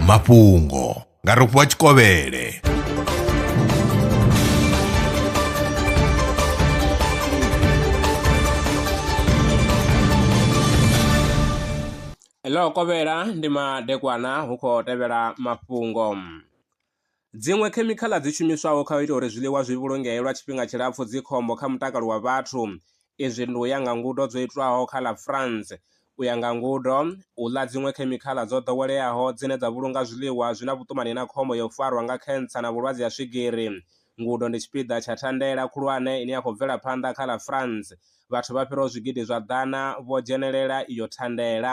mafhungo nga rofhiwa tshikovhele ḽo kovhela ndi madekwana hu khou tevhela mafhungo Dziṅwe khemikhaḽa dzi shumiswaho kha u ita uri zwiḽiwa zwi vhulungee lwa tshifhinga tshilapfu dzi khombo kha mutakalo wa vhathu. Izwi ndi u ya nga ngudo dzo itwaho kha ḽa France. U ya nga ngudo, u ḽa dziṅwe khemikhaḽa dzo ḓoweleaho dzine dza vhulunga zwiḽiwa zwi na vhuṱumani na khombo ya u farwa nga khentsa na vhulwadze ha swigiri. Ngudo ndi tshipiḓa tsha thandela khulwane ine ya khou bvela phanḓa kha ḽa France. Vhathu vha fhiraho zwigidi zwa ḓana vho dzhenelela iyo thandela.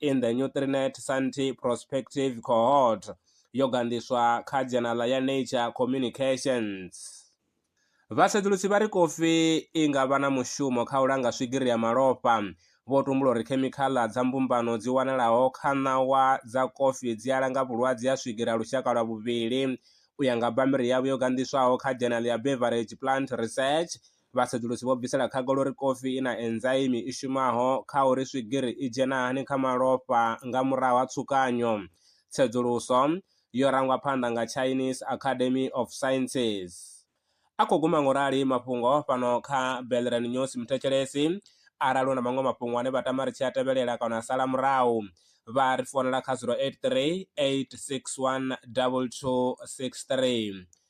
in the Nutrinet Santi Prospective Cohort yo gandiswa kha dzhenala ya Nature Communications. Vhasedzulusi vha ri kofi i nga vha na mushumo kha u langa swigiri ya malofha. Vho tumbula uri khemikhaḽa dza mbumbano dzi wanalaho kha ṋawa dza kofi dzi a langa vhulwadze ha swigiri ha lushaka lwa vhuvhili. U ya nga bammbiri yavho yo gandiswaho kha dzhenala ya Beverage Plant Research, Vhasedzulusi vho bvisela khagala uri kofi i na enzaimi i shumaho kha uri swigiri i dzhena hani kha malofha nga murahu ha tsukanyo. Tsedzuluso yo rangwa phanḓa nga Chinese Academy of Sciences. A khou guma ngorali mafhungo fhano kha Belren News muthetshelesi arali u na maṅwe mafhungo ane vha tama ri tshi a tevhelela kana a sala murahu vha ri founela kha 083 861 2263.